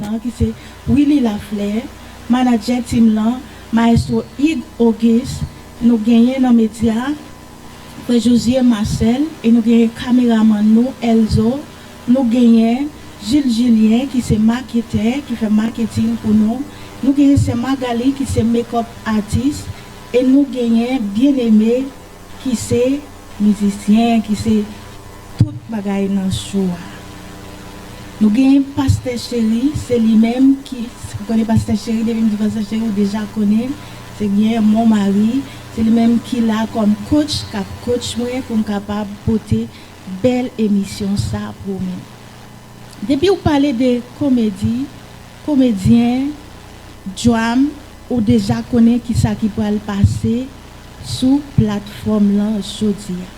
lan ki se Willy Lafleur, manadjè team lan, maestro Hugues Auguste, nou genyen nan medya a Frè Josué Marcel e nou genyen kameramann nou Elzo, nou genyen Jules Julien ki se maketè ki fè maketing pou nou, nou genyen sè Magalie ki se makeup artist e nou genyen Bien Aimé. ki se mizisyen ki se tout bagay nan show a nou gen pastè cheri se li menm ki ou konnen pastè cheri depi m di pastè cheri ou deja konnen se byen mon mari se li menm ki la kòm coach kap coach mwen pou m kapab pote bèl emisyon sa pou ou menm depi ou pale de komedi komedyen djwam ou deja konnen kisa ki pral pase. sou platfòm lan jodi a.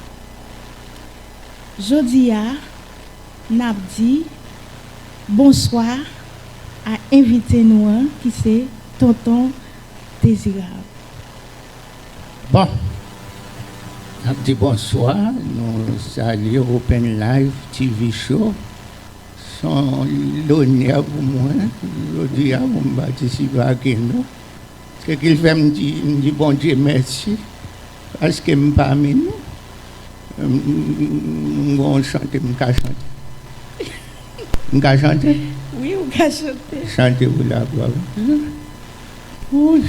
Jodi a, n ap di bonswa a envite nou an ki se Tonton Dezirab. Bon! N ap di bonswa, nou salye Open Live TV Show. S on lonè pou mwen jodi a pou m patisipe ake nou. Se ki fè m di m di Bondye mèsi paske m pami nou m gen yon chante m ka chante m ka chante wi ou ka chante chante pou laglwa Bondye wouyy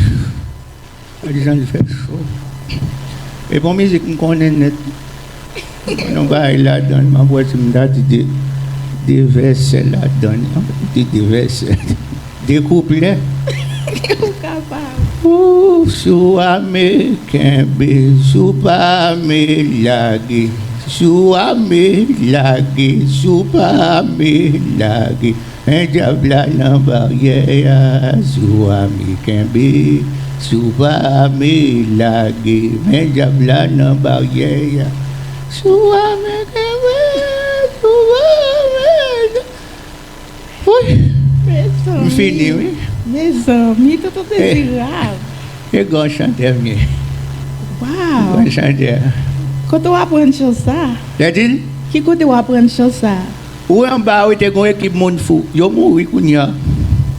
gade jan l fè cho e bon mizik m konnen nèt tou. M wè yon bagay ladann m ap wè si m ta di 2 vèsè ladann m ap di 2 vèsè 2 kouplè ou kapab. Ooh sou a me kenbe sou pa me lage sou a me lage sou pa me lage. Men dyab la nan baryè a si w ame kenbe si w pa ame lage men dyab la nan baryè a si w ame kenbe si w pa ame lage wouyy m fini wi Mezanmi tonton dezirab. E gen yon chantè vini. Waw. Yon chantè. Kote w aprann chan sa? Lè di l. Ki kote w aprann chan sa? Wi anba wi te gon ekip moun fou yo mouri kounya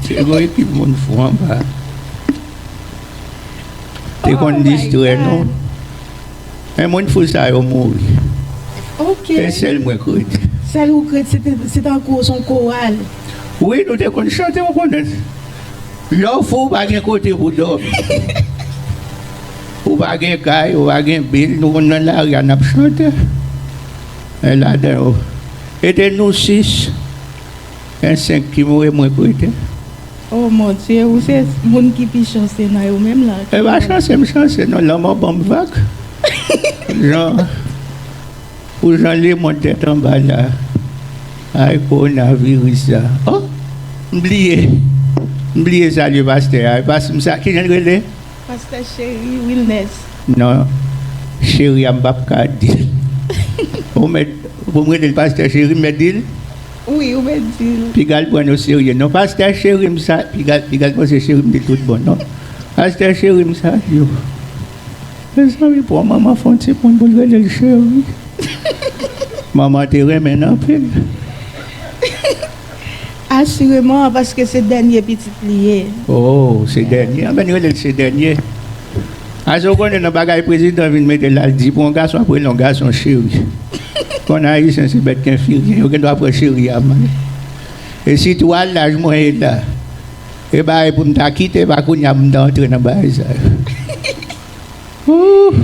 te gon ekip moun fou anba te konn distrè nou men moun fou sa yo mouri se sèl mwen k ret sèl ou k ret se tankou son koral wi nou te konn chante ou konnen lè w fou pa gen kote pou dòmi ou pa gen kay ou pa gen bil nou konn nan lari a nap chante. 1 ladan yo ede nou 6 1 5 ki mouri mwen prete. Oh mon Dieu ou se Moun ki pi chanse nan yo menm la. Epa chanse m chanse non lanmò banm vag jan pou jan lemond tèt anba la ay kowona viris sa oh m bliye m bliye salye pastè a epa m sa kijan l rele. Pastè cheri wilnes. Non cheri a m pap ka dil. Ou mèt pou m rele l pastè cheri m mèt dil? Wi ou mèt dil. Pigal pran nou serye non pastè cheri m sa pigal panse cheri m li tout bon non pastè cheri m sa yo mezanmi pou yon manman fè yon ti moun pou l rele l cheri manman te renmen l anpil. Asireman, paske se dènye pitit li ye. O, se dènye. Anben, rele l se dènye. Ase w konnen nan bagay prezidan vin mete la, l di pou yon gason ap rele yon gason cheri. Konn Ayisyen se bèt kenfiryen, yo gendwa pran cheri a mal. E sitou a laj mwen ye la, e bagay pou m ta kite pa kounye a pou m ta antre nan bagay sa yo. Ooh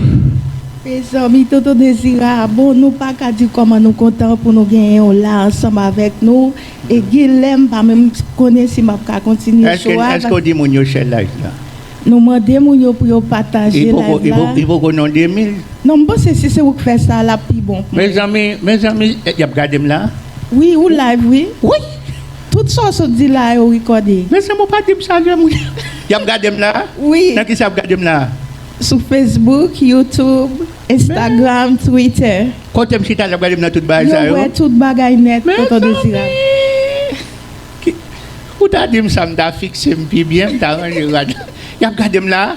mezanmi tonton dezirab oh nou paka di kòman nou kontan pou nou genyen w la ansanm avèk nou e gin lè m pa menm konnen si map ka kontinye show a Eske w di moun yo share live la? Nou mande moun yo pou yo pataje live la. Li poko non 2000? Non m panse si se ou k fè sa lap pi bon pou mwen. Mezanmi mezanmi yap gade m la? Wi ou live wi. Wouyy Tout sa w sot di la yo rikòde. Men sèm ou pa dim sa kem wi. Yap gadem la? Wi. Nan kisa yap gadem la? Sou Facebook, YouTube, Instagram, Twitter. Kotem chita lap gadem nan tout bagay sa yo? Yo wè tout bagay nèt tonton Dezirab. Mezanmi! Ou ta dim sa m ta fiksem pi byen, m ta ranje rad la. Yap gadem la?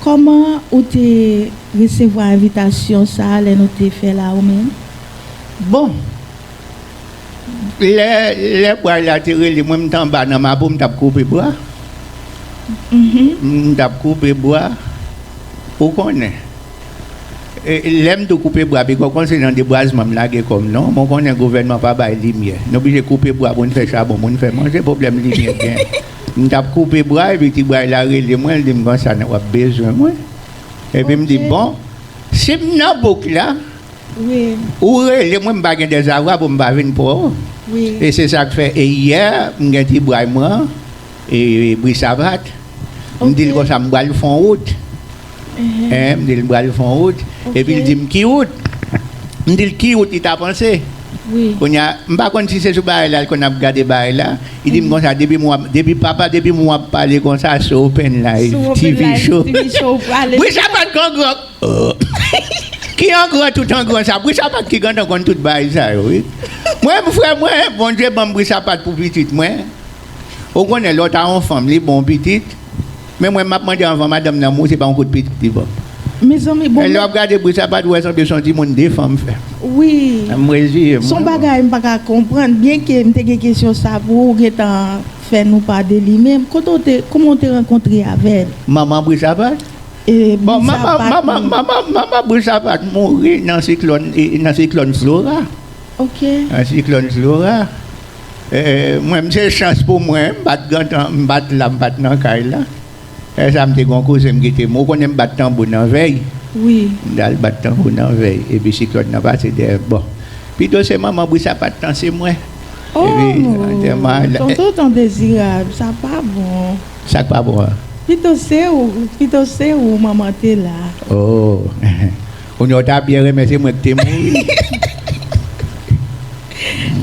Kòman ou te resevwa envitasyon sa a lè nou te fè l a ou menm? Bon, lè lè bway la te rele mwen, m te anba nan Mapou, m t ap koupe bwa. M t ap koupe bwa, ou konnen. Lè m tou koupe bwa, bikò kon se nan debwazman m lage kò m non, men w konnen gouvènman pa bay limyè. Nou oblije koupe bwa pou n fè chabon, pou n fè manje, pwoblèm limyè gen. M t ap koupe bray, epi ti bray la rele mwen, l di m konsa, w ap bezwen mwen. Epi m di, bon, si m nan bouk la, ou rele mwen, m pa gen dezavwa pou m pa vin pre w. E se sa k fè, e yè, m gen ti bray mwen an, e Brisavat, m di l konsa, m pral fè yon wout. Hein, m di l m pral fon wout, epi l di m ki wout? M di l ki wout li ta panse? Kounye a, m pa konn si se sou bagay la l konn ap gade bagay la, li di m konsa depi m wè, depi papa depi m wè w ap pale konsa sou Open Live TV show, bri sapat k angròk ooh, ki angrò tout angrò sa, bri sapat ki gentan konn tout bagay sa yo wi. Mwen m frè mwen, Bondye ban m bri sapat pou pitit mwen. Ou konnen lè w ta yon fanm li bon pitit men mwen map mande anvan madanm nan mouri se pa yon kout pitit li banm. Mezanmi bon men. Lè wap gade bri sa pat wè sanble son ti moun 2 fanm fè. Wi. M reziye m. Son bagay m paka konprann byen ke m te gen kesyon sa pou ou gentan fè nou pa de li menm kote w te kouman w te rankontre avèl. Manman bri sapat? Bon manman bri sapat mouri nan siklòn nan siklòn flora. Ok. Nan siklòn flora. Mwen se chans pou mwen m pat gentan m pat la m pat nan kay la lèsa m te gen yon kouzen m gete mouri ou konnen m bat tanbou nan vèy m tal bat tanbou nan vèy epi siklòn nan pase dèyè m bon pito se manman bri sa pat tan se mwen epi antèman an Tonton ton dezirab sa pa bon Sak pa bon an? Pito se ou pito se ou manman te la. Oh. Kounye a w ta byen renmen se mwen ki te mouri.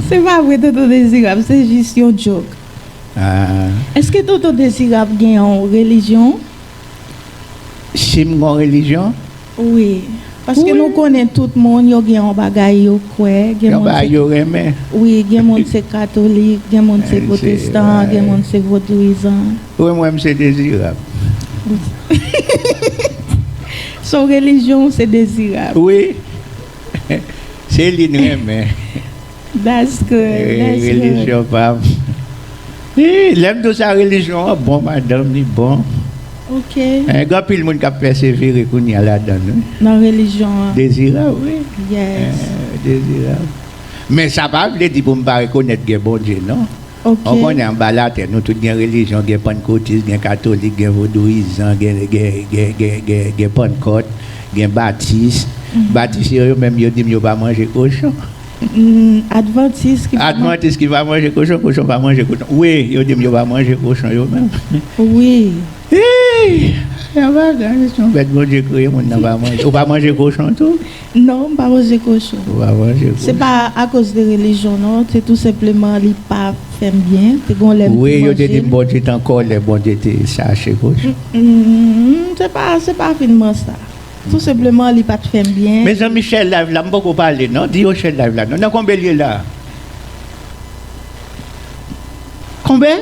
Se pa vre tonton dezirab se jis yon jok. Eske tonton dezirab gen yon relijyon? Sim gon relijyon? Wi. Paske nou konnen tout moun yo gen yon bagay yo kwè. Yon bagay yo renmen. Wi gen moun se katolik gen moun se potestan gen moun se vodouyizan. Wi m wè m se dezirab. Son relijyon w se dezirab. Wi se li n renmen. That's good. Relijyon pa m. Lè m di w sa relijyon an bon madanm li bon. Ok. Gen anpil moun k ap pèsevere kounye a ladan l wi. Nan relijyon an. Dezirab wi. Yes. Dezirab. Men sa pa vle di pou m pa rekonèt gen Bondye non. Ok. Bon kounye a anba latè nou tout gen relijyon gen pannkotis gen katolik gen vodouyizan gen gen pannkòt gen batis batis yo yo menm yo dim yo pa manje kochon Advantis ki pa manje advantis ki pa manje kochon kochon pa manje kochon wi yo dim yo pa manje kochon yo menm wi hii yon bagay son bèt Bondye kreye moun nan pa manje ou pa manje kochon tou. Non, m pa manje kochon. Ou pa manje kochon. Se pa akoz de relijyon non, se tou senpleman li pa fè m byen. Te gon lè m te manje l. Wi, yo te di m Bondye te an kòlè, Bondye te chache kochon. Se pa, se pa finman sa. Tou senpleman li pa t fè m byen. Mezanmi share live la, m poko pale non, di yo share live la non. Nan konbe l ye la? Konbe?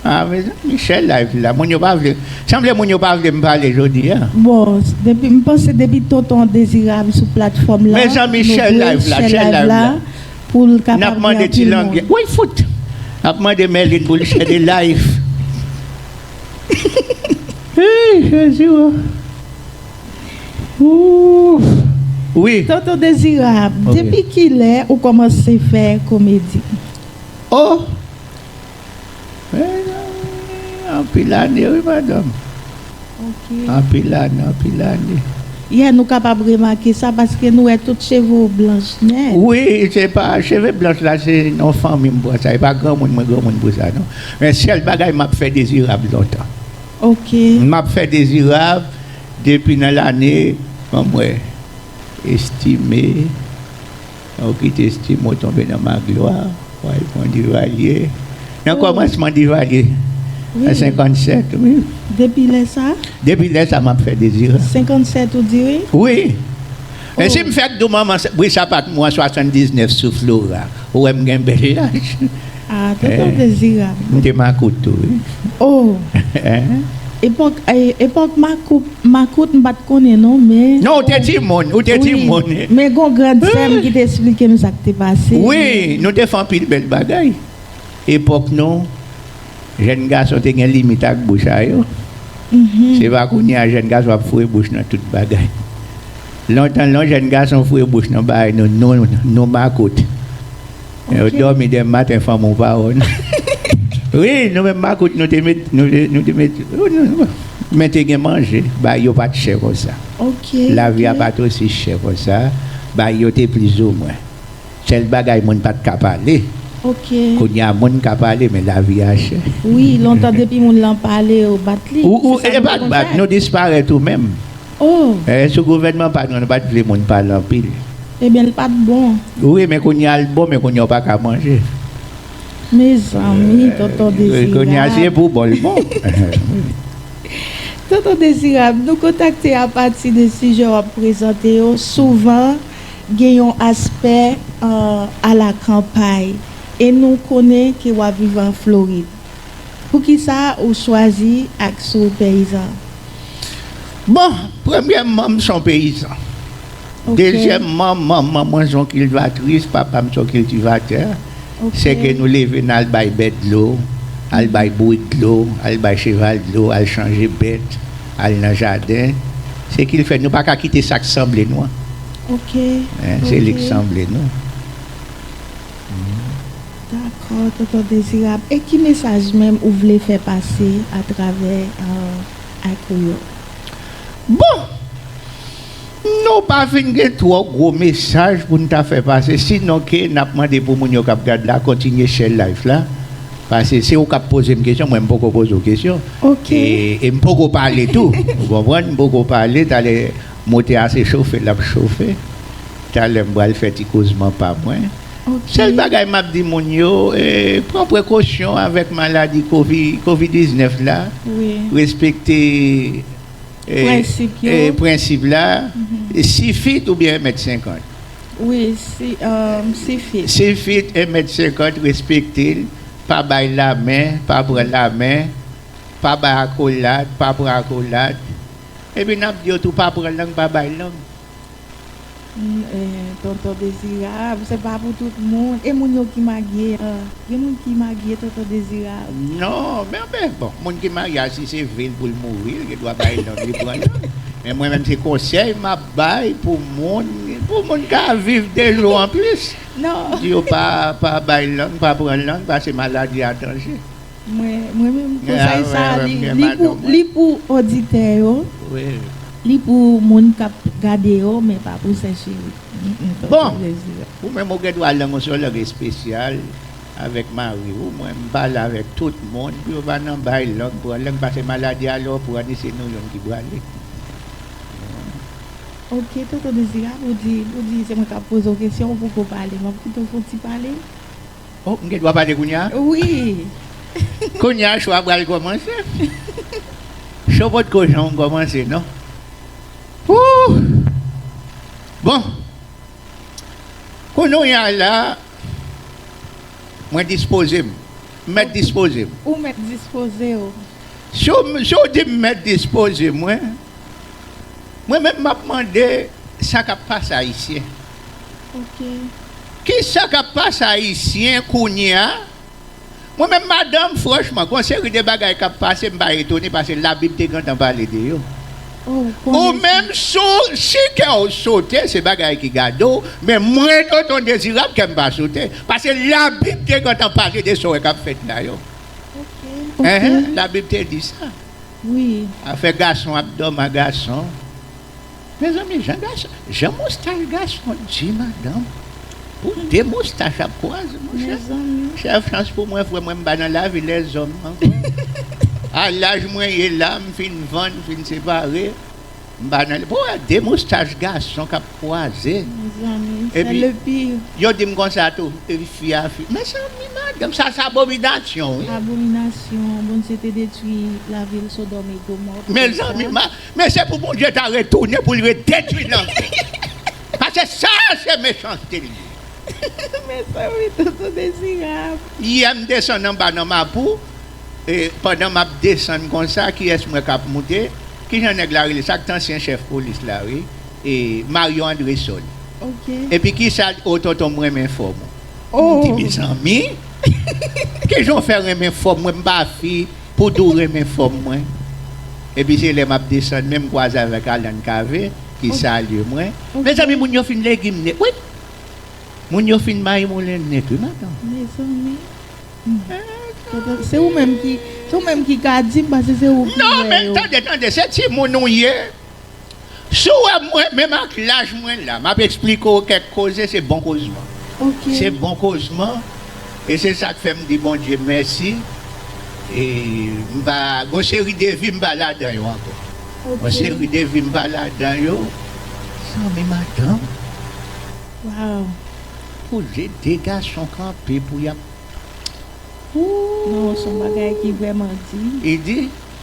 Ah mezanmi sè live la moun yo pa vle sanble moun yo pa vle m pale jodi an. Bon depi m panse depi tonton dezirab sou platfòm la mezanmi sè live la sè live la pou l kapab gen anpil moun. Nap mande ti langyèt woy fout ap mande mèlin pou l sè de live hii jezi woo ooh. Tonton dezirab depi kilè ou kòmanse fè komedi. Oh! Mezanmi, anpil ane wi madanm. Ok. Anpil ane, anpil ane. Yeah nou kapab remake sa paske nou wè tout cheve w blanch nèt. Wi, se pa cheve blanch la se nan fanmi m pran sa, e pa granmoun mwen granmoun pou sa non. Men sèl bagay m ap fè Dezirab lontan. Ok. M ap fè Dezirab depi nan lane, ban m wè, Estime. Ok Testi mwen tonbe nan maglwa wayy pran Duvalier nan kòmansman Duvalier an 57 wi Depi lè sa? Depi lè sa map fè Dezirab. 57 ou di wi? Wi Men sim fèk di w manman bri sapat mwen an 79 sou Flora ou wèm gen bèl laj. Ah tonton dezirab. M te makout tou wi. Oh epòk makout m pat konnen non men. Non ou te timoun ou te timoun. Men gon grand sèm ki te esplike m sa k te pase. Wi nou te fè anpil bèl bagay. Epòk nou jèn gason te gen limit ak bouch a yo. Se pa kounye a jèn gason ap foure bouch nan tout bagay. Lontan lon jèn gason foure bouch nan bagay nou makout. Ou domi de maten fanm ou pa wè nou. Wi nou menm makout nou te met nou te met men te gen manje bagay yo pat chè konsa. Lavi a pat osi chè konsa bagay yo te plizoumwen. Sèl bagay moun pat ka pale kounya moun ka pale men lavi a chè. Wi lontan depi moun lan pale yo bat li. Ou epa bat nou disparèt ou menm. Oh! Eh sou gouvènman pa nou, nou pat vle moun pale anpil. Ebyen l pat bon. Wi men kounye a l bon men kounye a w pa ka manje. Mezanmi tonton dezirab. Kounye a si e pou bon l bon. Tonton Dezirab, nou kontakte apati de sijè w ap prezante yo, souvan gen yon aspè a la kanpay e nou konnen ke w ap viv an Florid. Poukisa ou chwazi ak si w peyizan? Bon, premyèman m son peyizan. Dezyèman man man mwen son kilvatris, papa m son kiltivatè. Se ke nou leve nan al bay bèt dlo, al bay bourik dlo, al bay cheval dlo, al chanje bèt, al nan jaden. Se ki l fè nou pa ka kite sa k sanble nou an. Se li k sanble nou. Dakò tonton dezirab e ki mesaj menm ou vle fè pase a travè ayk ou yo? Bon! Nou pa fin gen twò gwo mesaj pou n ta fè pase sinon ke n ap mande pou moun yo k ap gad la kontinye share life la pase se ou k ap poze m kesyon mwen m poko poze w kesyon e m poko pale tou ou konprann m poko pale talè Motè a se chofe l ap chofe. Talè m pral fè ti kozman pa mwen. Sèl bagay m ap di moun yo, pran prekosyon avèk maladi kovi 19 la, respekte prensip la, si fit oubyen 1 mèt 50. Wi, si fit. Si fit 1 mèt 50 respekte l, pa bay lamen, pa pran lamen, pa bay akolad, pa pran akolad. Epi nap diw tou pa pran lang pa bay lang. Humm tonton dezirab se pa pou tout moun e moun yo ki magie an gen moun ki magie tonton dezirab. Non men anfen bon moun ki marie a si se vil poul mouri li gen dwa bay lang li pran lang men mwen menm se konsèy map bay pou moun pou moun ka viv 2 jou anplis di yo pa bay lang pa pran lang pase maladi a danje. Mwen renmen konsèy sa li pou oditè yo li pou moun kap gade yo men pa pou sè cheri. Bon ou menm ou gendwa al nan yon sòlòg espesyal avèk mariw mwen m pale avèk tout moun pou yo pa nan bay lòg pran lèm pase maladi a lèw pran li se nou youn ki prale. Ok tonton Dezirab ou di se mwen kap pozew kesyon ou poko pale map kitew fon ti pale. Oh m gen dwa pale kounya? Wi. Kounya show a pral kòmanse. Show pot ko janm kòmanse non. Ooh! Bon. Kounounya la mwen dispoze m. M mèt dispoze m. Ou mèt dispoze w. Si w di m mèt dispoze mwen, mwen menm m ap mande sa k ap pase Ayisyen. ok. Kisa kap pase ayisyen kounyea mwen menm madanm franchman gon seri de bagay kap pase m pa etone pase labib te gentan pale de yo ou menm sou si kèw sote se bagay ki gade w men mwen tonton dezirab kèm pa sote pase labib te gentan pale de sa w wè kap fèt la yo enh labib te di sa afè gason ap dòm a gason. Mezanmi jan gason jan moustache gason di madanm pou de moustache ap kwaze monchè sèl chans pou mwen frèm mwen pa nan lavi lèzòm ankò a laj mwen ye la m fin vann m fin separe m pa nan pou wè de moustache gason kap kwaze epi yo dim konsa tou epi fi a fi mezanmi madanm sa se abominasyon wi mezanmi Men se pou Bondye ta retounen pou l redetwi lang yo. Pase sa se mechanste li ye. Mezanmi tonton dezirab. Yè m desann anba nan mapou e pandan map desann konsa kiyès m wè kap moute kijan nèg la rele sa k t ansyen chèf polis la wi e Mario Andresol epi kisa l oh tonton m renmen fòm ou m di mezanmi kijan w fè renmen fòm mwen m pa fi. Poudou renmen fòm mwen epi se lè map desann menm kwaze avèk Alan Cavé ki salye mwen Mezanmi moun yo fin legim nèt wi Moun yo fin mayimoulen nèt wi madanm. Mezanmi Se ou menm ki ka dim pase se ou ki wè yo. Non men tande tande se timoun ou ye Si w wè mwen, menm ak laj mwen la, m ap esplike w kèk koze, se bon kozman. Se bon kozman e se sa k fè m di Bondye mèsi e m pa, gon seri de vi m pa ladan yo ankò. Gon seri de vi m pa ladan yo, zanmi madanm. Waww. Koze de gason kanpe pou y ap. Ooh. Non, s on bagay ki vrèman di. E di.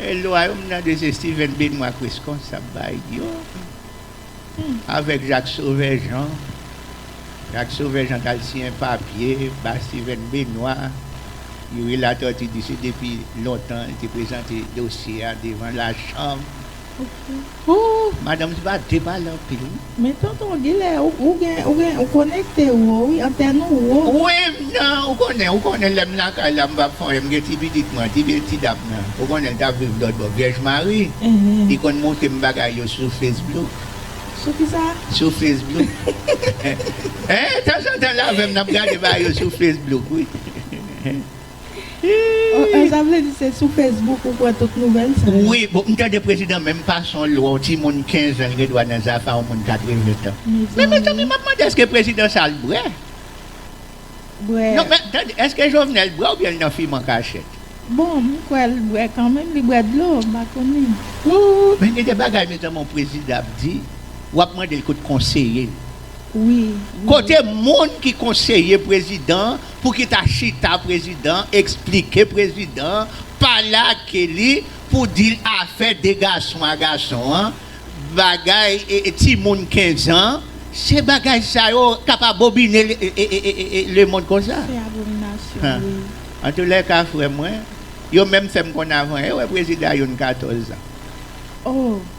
E lwa yo m tande se Steven Benoît Crescon sa ap bay yo avèk Jacques Sauveur Jean. Jacques Sauveur Jean t al siyen papye ba Steven Benoît. Youri Latortue di se depi lontan li te prezante dosye a devan lachanm. Ooh madanm se pa de pale anpil wi. Men tonton gilè ou gen ou gen ou konekte wo wi antèn ou wo. Wi m nan ou konnen ou konnen lèm lakay la m pap fon em gen ti pitit mwen ti pil ti dam nan ou konnen l tap viv lòtbò vyèj mari li konn moutre m bagay yo sou fesblouk Sou kisa? sou fesblouk tanzantan l avèm nap gade bagay yo sou fesblouk wi. Hii. Sa vle di se sou Facebook ou pran tout nouvèl sa yo? Wi, bon m tande prezidan menm fason l wè yon timoun 15 an l gen dwa nan zafa yon moun 80 tan. Men mezanmi map mande eske prezidan sa al brè? Brè. Non men tande eske Jovenel brè oubyen l nan fim an kachèt? Bon m kwè l brè kanmenm li bwè dlo m pa konnen. Ooh men gen de bagay mezanmi yon prezidan ap di wap mande l kot konseye l. Kote moun ki konseye prezidan pou ki ta chita prezidan esplike prezidan pale ak Kelly pou dil afè 2 gason a gason an bagay timoun 15 an se bagay sa yo kap abobine le mond konsa antoulèka frè mwen yo menm fèm konn avan yo wè prezidan a youn 14 an.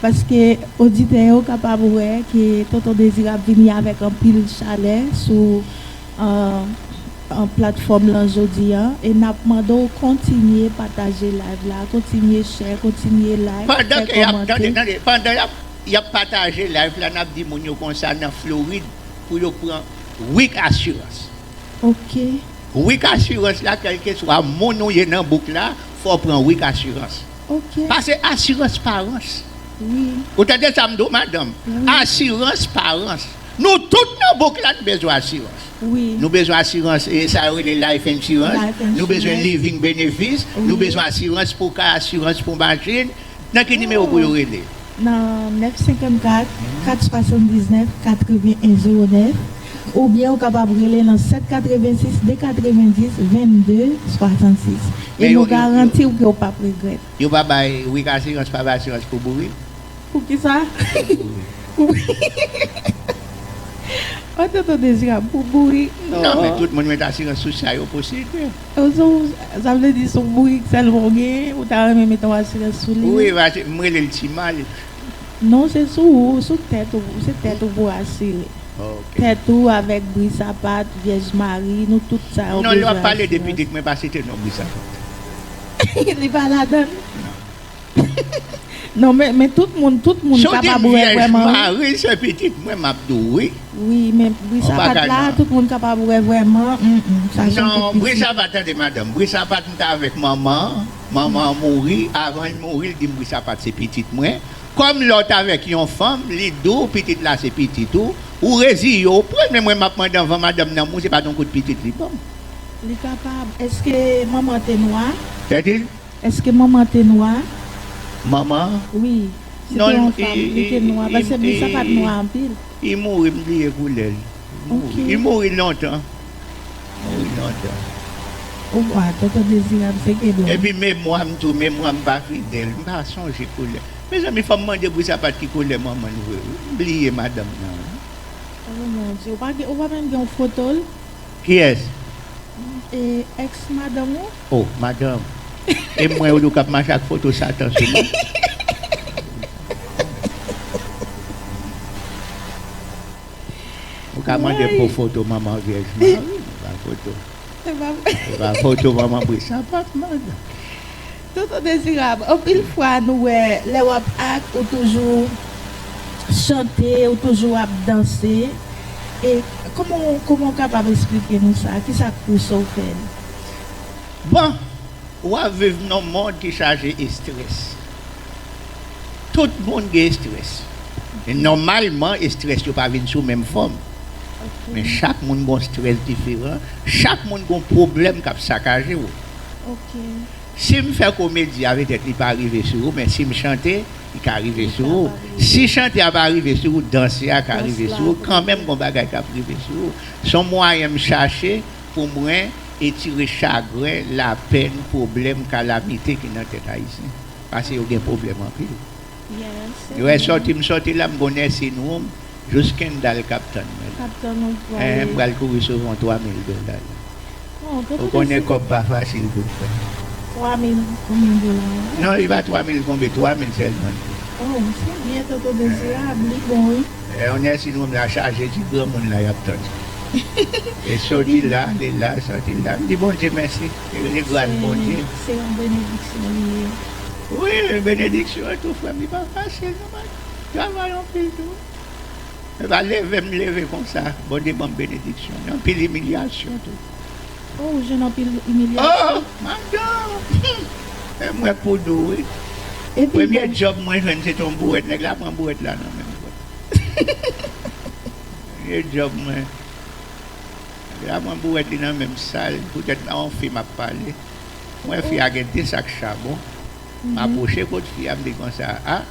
Paske oditè yo kapab wè ke Tonton Dezirab vini avèk anpil chalè sou platfòm lan jodi an e n ap mande w kontinye pataje live la, kontinye share, kontinye like, fè kòmante. Tande, pandan y ap pataje live la, n ap di moun yo konsa nan Florid pou yo pran Week Assurance. Ok. Week Assurance la, kèlkeswa moun ou ye nan bouk la, fò w pran Week Assurance. Ok. Pase asirans parans. Wi. Ou tande sa m di w madanm? Wi. Asirans parans. Nou tout nan bouk la n bezwen asirans. Wi. Nou bezwen asirans e sa yo rele life insurance. Life insurance. Nou bezwen living benefis. Wi. Nou bezwen asirans pou ka, asirans pou machin. Nan ki nimewo pou yo rele? Nan 954 479 81 09. Oubyen ou kapab rele nan 786 290 22 66 e nou garanti w ke w pap regrèt. Yo pa bay wik asirans pa bay asirans pou bourik. Pou kisa? Pou bourik. Oh tonton Dezirab pou bourik non. Non men tout moun met asirans sou sa yo posede. Oh sou sa vle di sou bourik sèlman ou genyen ou ta renmen met yon asirans sou li. Wi paske m rele l ti mal. Non se sou ou, sou tèt ou, se tèt ou pou asire. Tèt ou avèk bri sapat, vyèj mari, nou tout sa yo bezwen asirans. Non lè wap pale de pitit mwen pa site non bri sapat. Li pa ladann. Non men tout moun tout moun kapab wè vrèman wi. Si w di vyèj mari se pitit mwen map di w wi. Wi men bri sapat la tout moun kapab wè vrèman. Non bri sapat tande madanm bri sapat mta avèk manman. Manman an mouri, avan l mouri l di m Brisapat se pitit mwen, kòm lè w t avèk yon fanm li di w pitit la se pitit ou, ou reziye w pran l men mwen m ap mande anvan madanm nan mouri se pa t yon kout pitit li ban m. Li kapab. Èske manman an te nwa? Tèti. Èske manman an te nwa? Manman an? Wi. Se te yon fanm, li te nwa. Pase Brisapat nwa anpil. I mouri m bliye koulè l. Ok. I mouri lontan. Mwen ri non dan. Ou kwa tonton dezirab se Gedo. Epi memwam tou memwam pa fidèl m pa sonje koulè mezanmi fòm mande pou sapat ki koulè manmanl vre wi m bliye madanm nan wi. Oh mon Dieu ou pa gen ou pa menm gen yon fotol. Kiyès? E ex madanm ou. Oh madanm e mwen ou di ou kap mache ak foto satan sou mwen. Ou ka mande pou foto manman vyèj mwen an wi, men pa foto. Men pa foto manman bri sapat madan. Tonton Dezirab, anpil fwa nou wè lè w ap ak ou toujou chante, ou toujou ap danse. E kouman w kouman w kapab esplike nou sa? Ki sa k pouse w fè l? Bon, w ap viv nan yon mond ki chaje estrès. Tout moun gen estrès. Men nòmalman estrès yo pa vin sou menm fòm. Men chak moun gon strès diferan, chak moun gon pwoblèm kap sakaje ou. Sim fè komedi a petèt li pa rive sou ou men sim chante li ka rive sou ou. Si chante a pa rive sou ou danse a ka rive sou ou kanmenm gon bagay kap rive sou ou. Son mwayen m chache pou mwen etire chagren, lapèn, pwoblèm, kalamite ki nan tèt ayisyen. Pase yo gen problem anpil. Yo wè sòti m sòti la m gon nursing room jous Kendall kap tann mwen la. Eeh m pral kouri sove yon 3 mil dola la. Ou konnen kòb pa fasil pou fè. 3 mil konbyen dola la? Non li pa 3 mil konbyen 3 mil sèlman li ye. Oh se byen toto dezirab li bon wi. Yon nursing room la chaje ti granmoun la yap tann. E soti la ale la soti la m di Bondye mèsi. Li se grâce Bondye. Se yon benediksyon li ye. Wi benediksyon tou frèm li pa fasil non mwen travay anpil tou se pa leve m leve konsa Bondye banm benediksyon li anpil imilyasyon tou Oh ou jwenn anpil imilyasyon? Oh madanm humm e mwen pou nou wi premye djòb mwen jwenn se te yon bouwèt nèg la pran bouwèt la nan menm mwen premye djòb mwen. Lè a mwen bouwèt li nan menm sal poutèt nan yon fi map pale m wè fi a gen 2 sak chabon m apwoche kot fi a m di konsa ah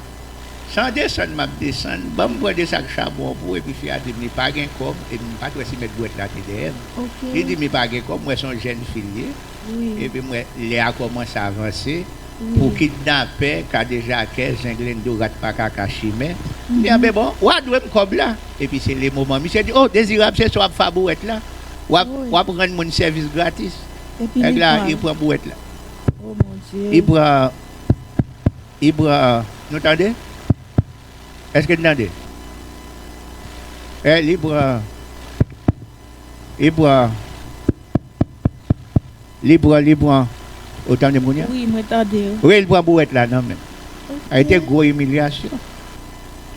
san desann map desann banm pran 2 sak chabon an pou ou epi fi a dim li pa gen kòb epi m pat wè si mèt bouwèt la te dèyè m li dim li pa gen kòb m wè son jèn fi l ye Epi m wè lè a kòmanse avanse pou kidnapè, kadejakè, zenglendo, rat pa kaka, chimè. M di anben bon, wa dwe m kòb la. Epi se lemoman misye di o Dezirab se sou ap fa bouwèt la, w ap rann moun sèvis gratis. Nèg la li pran bouwèt la. Li pran, li pran, nou tande? Eske n tande? Li pran, li pran. Li pran li pran ou tandem kounya? Wi mwen tandew. Rèl pran bouwèt la nan menm. Ok. Te gwo imilyasyon.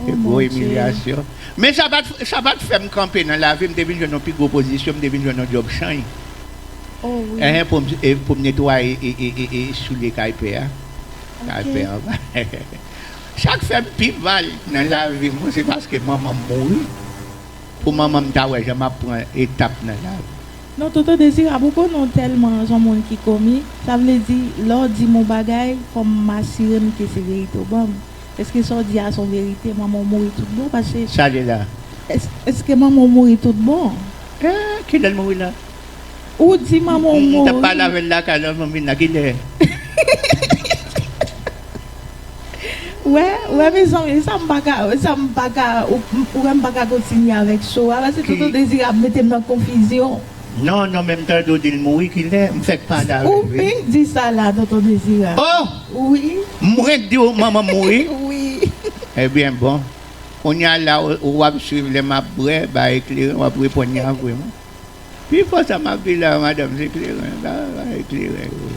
Oh mon Gwo Dieu. imilyasyon. Men sa pat sa pat fèm kanpe nan lavi m te vin jwenn yon pi gwo pozisyon m te vin jwenn yon djòb chany. Oh wi. Ehe pou m e pou m netwaye e e e e soulye kay pè a. Kay Ok. pè anba. Sak fèm pi mal nan lavi m se paske manman m mouri. Pou manman m ta wè jan map pran etap nan lavi. Non tonton dezirab ou konnen w tèlman son moun ki komik sa vle di lè w di m on bagay fòm m asire m ke se verite w ban m eske sa w di a son verite manman w mouri tout bon pase Sa li la. Eske manman w mouri tout bon. Eeh kilè l mouri la. Ou di manman w mouri. M tap pale avèl lakay la manmil la kilè. Wè wè mezanmi e sam paka e sam paka ou wèm paka kontinye avèk show a pase tonton désiré ap metem nan konfizyon. Non non menm tande w di l mouri kilè m fèk pale avè l wi. Ou fenk di sa la tonton dezira. Oh! Wi. M fenk di w manman m mouri? Wi. Ebyen bon. Kounya la ou ap swiv lè map bwè bay kleren wap reponn yavwim. Pi fò sa map viv la madanm se kleren la e kleren yo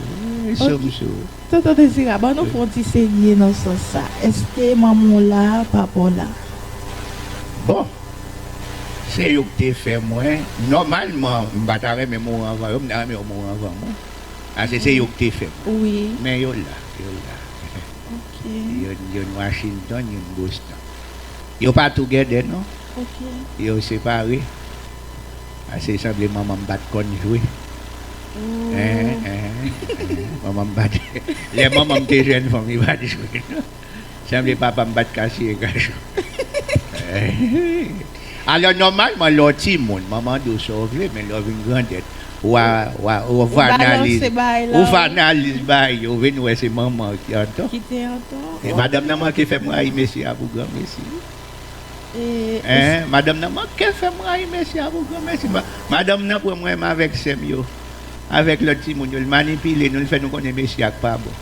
e som sou. Tonton Dezirab an nou fon ti serye nan sans sa eske manman w la papa w la. Bon se yo ki te fè mwen nòmalman m pa ta renmen mouri anvan yo m ta renmen yo mouri anvan mwen paske se yo ki te fè mwen men yo la yo la youn Washington youn Boston yo pa tou gèdè non. Yo separe pase sanble manman m pat konn jwe manman m pat lè manman m te jèn fanm li pat jwe non sanble papa m pat ka siye gason alò nòmalman lè w ti moun manman di w sa w vle men lè w vin grandèt wa wa ou fè analiz ou fè analiz bagay yo ou vin wè se manman w ki antò e madanm nan manke fè m rayi mesye a pou granmesi. Eeh madanm nan manke fèm rayi mesi a pou gran mesi madanm nan pranm renmen avèk sèm yo avèk lòt timoun yo l manipile nou l fè nou konnen mesi a k pa bon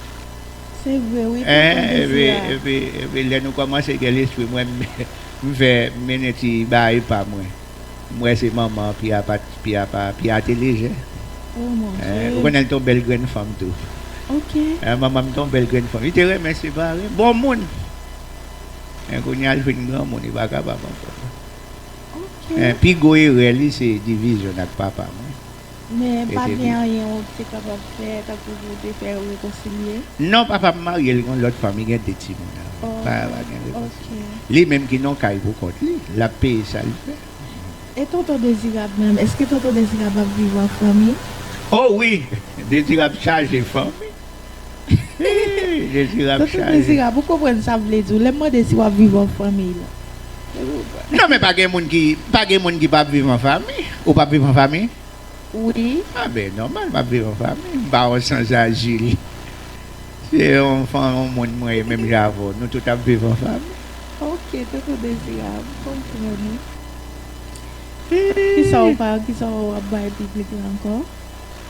epi epi epi lè nou kòmanse gen lespri mwen m fè m mennen ti baay pa mwen m wè se manman an pi a pa pi a pa pi a te lejè ou konnen l t on bèl grenn fanm tou manman m t on bèl grenn fanm li te renmen separe bon moun. Men kounya li fin granmoun li pa kapab ankò non. Men pi gwo erè li se divizyon l ak papa mwen. Men pa t gen anyen ou te kapab fè tankou pou w te fè yo rekonsilye? Non papa m marye l gon lòt fanm li gen 2 timoun avè l pa gen rekonsilye. Li menm ki nan kay pou kont li l ap peye sa l fè. E tonton Dezirab menm èske tonton Dezirab ap viv an fanmi? O wi Dezirab chaje fanmi. Tonton Dezirab ou konprann sa m vle di w lè m mande si w ap viv an fanmiy la. Non men pa gen moun ki pa gen moun ki pa ap viv an fanmiy. Ou pa ap viv an fanmiy? Wi. A ben nòmal m ap viv an fanmiy. M pa yon sanzajil. Se yon fanm yon moun mwen ye menm jan avè w. Nou tout ap viv an fanmiy. Ok Tonton Dezirab m konprann ou. Kisa w pa kisa w ap bay piblik la ankò?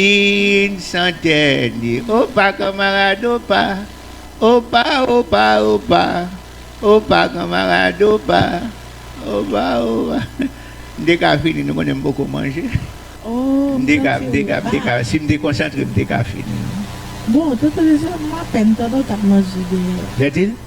Yn santèn e opa kanmarad opa Opa opa opa Opa kanmarad opa Opa opa M te ka fini nou konnen m poko manje M te ka m te ka m te ka si m te konsantre m te ka fini l. Bon, Toto Jezi, m apèn tande w t ap manje dèyè. Vètil,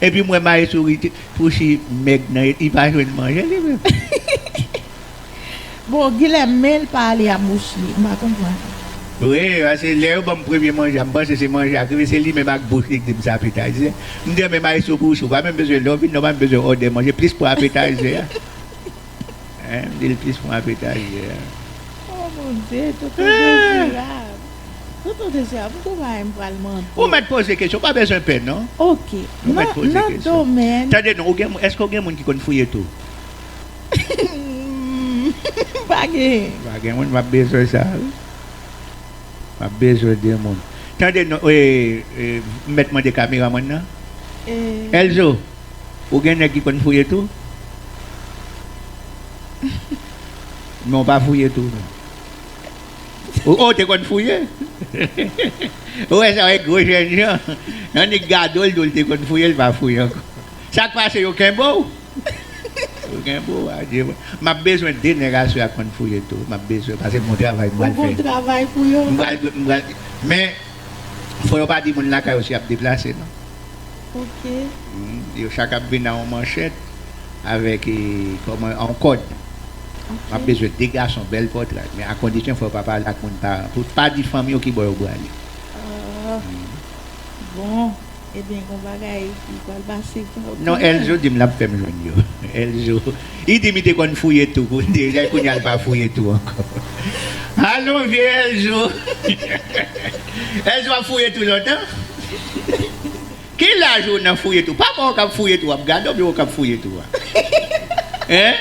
Epi m wè maestro rete pouse mèg nan li pa jwenn manje li menm. Bon Guilherme menl pa ale a bouch li m pa konprann. Wi paske lè yo banm premye manje a m panse se manje ak rive se li menm ak bouch li k di m se apetayzè m di men maestro pouse ou pa menm bezwen lè ou vin la ou pa menm bezwen òdè manje plis pou apetayzè a. Dil plis pran ak etazye a. Oh mon Dieu tonton dezirab. Tonton dezirab gou bagay m pral mande. Ou mèt poze kesyon ou pa bezwen pè non. Ok nan domèn. Tande non ou gen moun eske ou gen moun ki konn fouye tou. Humm pa gen. Pa gen moun map bezwen sa wi. Map bezwen de moun. Tande non m mèt mande kameramann nan. Elzo. Ou gen nèg ki konn fouye tou? Men w pa fouye tou non. Ou o te konn fouye? Ou wè sa w e gwo jènjan. Annik gade w l di w l te konn fouye l pa fouye ankò. Sa k pase yo kenbe w? Yo kenbe w adye mwen. M ap bezwen 2 nèg aswè a k konn fouye tou. M ap bezwen pase m gon travay m pral fè. Ou gon travay pou yo? M pral, men fò yo pa di moun lakay ou si y ap deplase non. Ok. Yo chak ap vin a yon manchèt avèk kòman yon kòd. Ok. Map bezwen 2 gason bèl pòtray men a kondisyon fò yo pa pale ak moun paran pou pa di fanmi yo ki bò yo brale. Ahh bon ebyen gon bagay ki pral pase pou. Non Elzo dim lap fèm jwenn yo Elzo. Li di mi te konn fouye tou pou li jay kounya li pa fouye tou ankò alon vye elzo elzo ap fouye tou lontan ki laj ou nan fouye tou pa bon ou kap fouye tou ap gadon byen ou kap fouye tou a hein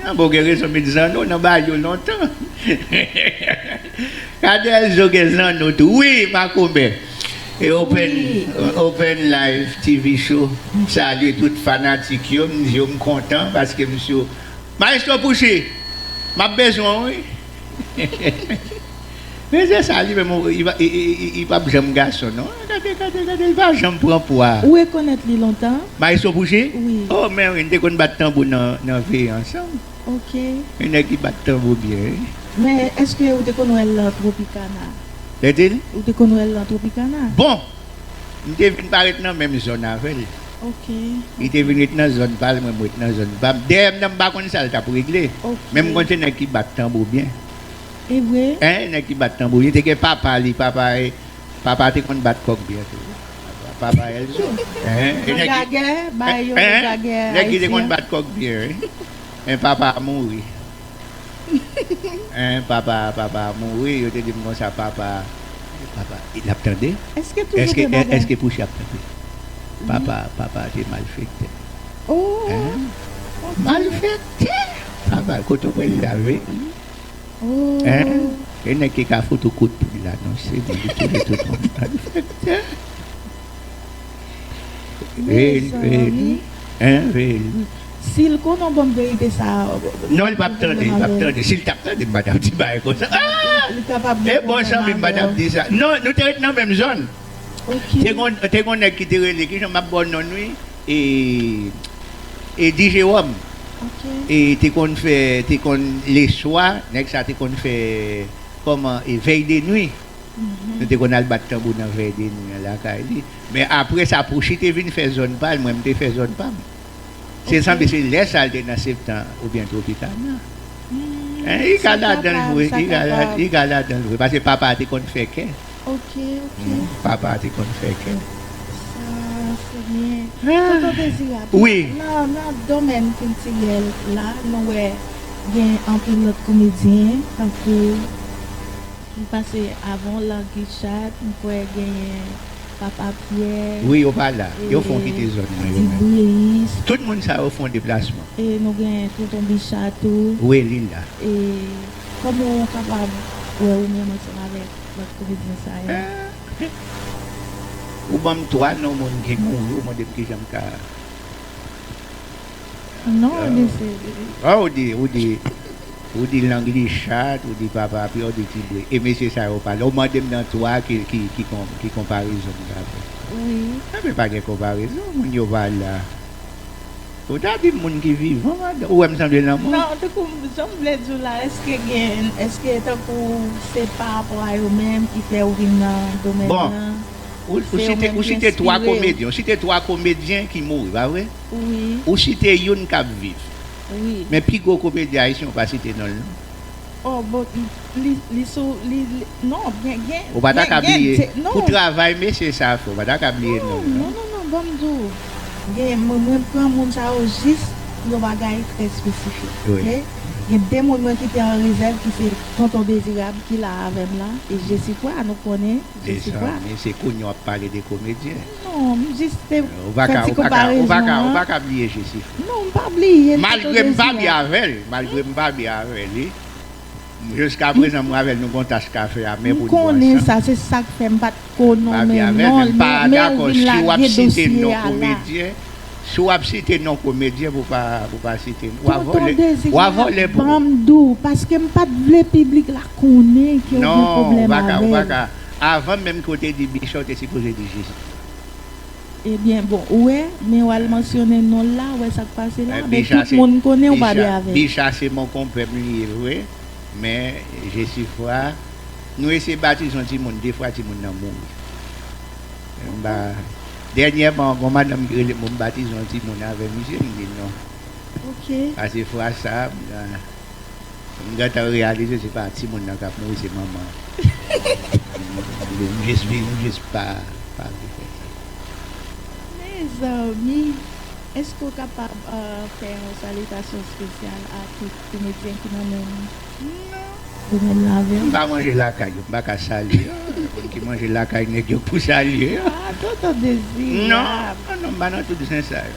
Anba w gen rezon met zanno nan bayo lontan Kadelzo gen zanno tou wi makomè Open live TV show m salye tout fanatik yo m di yo m kontan paske m sou Maestro Pouchy m ap bezwen w wi. Rèzè sa li menm li pap janm gason non gade gade gade li pa janm pran pwa. Ou rekonèt li lontan? Maestro Pouchi? Wi. Oh men wi, n te konn bat tanbou nan veye ansanm. Ok. Yon nèg ki bat tanbou byen wi. Men eske ou te konn wè l lan Tropicana? K'dil? Ou te konn wè l lan Tropicana? Bon! M te vin pa ret nan menm zòn avè l. Ok. Li te vin ret nan zòn pa l, mwen m ret nan zòn pa m. Dèyè m nan m pa konn sa l t'ap regle. Ok. Men m konn se nèg ki bat tanbou byen. Evre? Enh nèg ki bat tanbou li te gen papa li papa papa te konn bat kòk byen tou papa elzo enh enh nèg ki te konn bat kòk byen wi enh papa mouri enh papa papa mouri yo te dim konsa papa papa lap tande eske pouchie ap tande papa papa te malfektè enh malfektè papa kote w pran sa vini. E nèg ki ka fout ou kout pwen la non se li li touye tout moun malfektè Mezanmi Sil konnen banm verite sa Non li pap tande li pap tande sil tap tande m pa tap di bagay konsa E bon zanmi m pa tap di sa Non nou te ret nan menm zòn. Te gon nèg ki te rele ki jan map baw non l wi Eddy Jérôme e te konn fè te konn leswa nèg sa te konn fè kòman e vèy de nwi nou te konn al bat tanbou nan vèy de nwi lakay li men apre sa Pouchi te vin fè zòn pa l mwen m te fè zòn pa m. Se sanble se lè sa l te nan Septan oubyen Tropicana. Li ka ladan l vre. Li ka ladan l vre. Pase papa a te konn fè kè. Ok, ok. Papa a te konn fè kè. Sa se byen. Tonton Dezirab. Wi. Nan domèn kiltirèl la, nou wè gen anpil lòt komedyen tankou, nou pase avan w Larguy Chaat, m kwè genyen. Papa Pierre Wi yo pa la, yo fon kite zòn nan yo menm. Dibris. Tout moun sa yo fon deplasman. E nou gen Tonton Bicha tou. Wi li la. E kòman ou kapab wè ou menm ansanm avèk lòt komedyen sa yo? Ou banm 3 non moun ki mouri ou mandem kijanm ka. Non ou di si. An ou di, ou di, ou di lang li chat, ou di papa a pi, ou di ti bri. E mesye sa yo pale. Ou mande m nan 3 ki konparezon m ka fè. Wi. A men pa gen konparezon, moun yo pa la. Ou ta di m moun ki vivan madan, ou wè m sanble lanmò? Non, tankou jan m vle di w la, eske gen, eske tankou se pa rapò a yo menm ki fè ou vin nan domèn nan? Bon, ou site, ou site 3 komedyen, ou site 3 komedyen ki mouri, pa vre? Ou site youn k ap viv. Men pi gwo komedyen ayisyen ou pa site non l non. Oh bon li sou li non gen gen. Ou pa ta ka bliye pou travay mesye sa fè ou pa ta ka bliye non l non. Non non non ban m di w gen mwen pran moun sa yo jis pou yon bagay trè espesifik ok. Gen 2 moun mwen kite an rezèv ki se Tonton Dezirab ki la avè m la e Jesifra nou konnen Jesifra. Mezanmi se kounye w ap pale de komedyen. Non, m jis te fè ti konparezon an. Ou pa ka bliye Jesifra. Non, m pa bliye l. Malgre m pa byen avè l, malgre m pa byen avè li, jiskaprezan mwen avè l nou gon tas kafe amè pou n bwè ansanm. M konnen sa, se sa k fè m pa t ko nonmen non l, men ou vin lage dosye a la. Si w ap site non komedyen pou w pa site m, w a vòlè pou m. Tonton Dezi, sa a ban m dou, paske m pa t vle piblik la konnen ke w gen pwoblèm avè l. Avan menm ke w te di Bicha w te sipoze di Jezi. Ebyen bon ou wè men wal mansyone non l la ou wè sak pase la men tout moun konnen ou pa dwe avèl. Bicha se monkonpè m li ye vre men Jesifra nou eseye batize yon timoun de fwa timoun nan mouri m pa dènyèman gon madanm ki rele m pou m batize yon timoun avè misye m di non pase fwa sa. M gentan reyalize se pa timoun nan kap mouri se manman an m jis viv m jis pa vle fè sa. Mezanmi eske ou kapab fè yon salitasyon spesyal a tout komedyen ki nan menm non. Ou menm nan avèm. M pa manje lakay yo m pa ka salye yo moun ki manje lakay nèg yo pou salye yo. Ah tonton dezi. Non non m pa nan tout zen sa yo.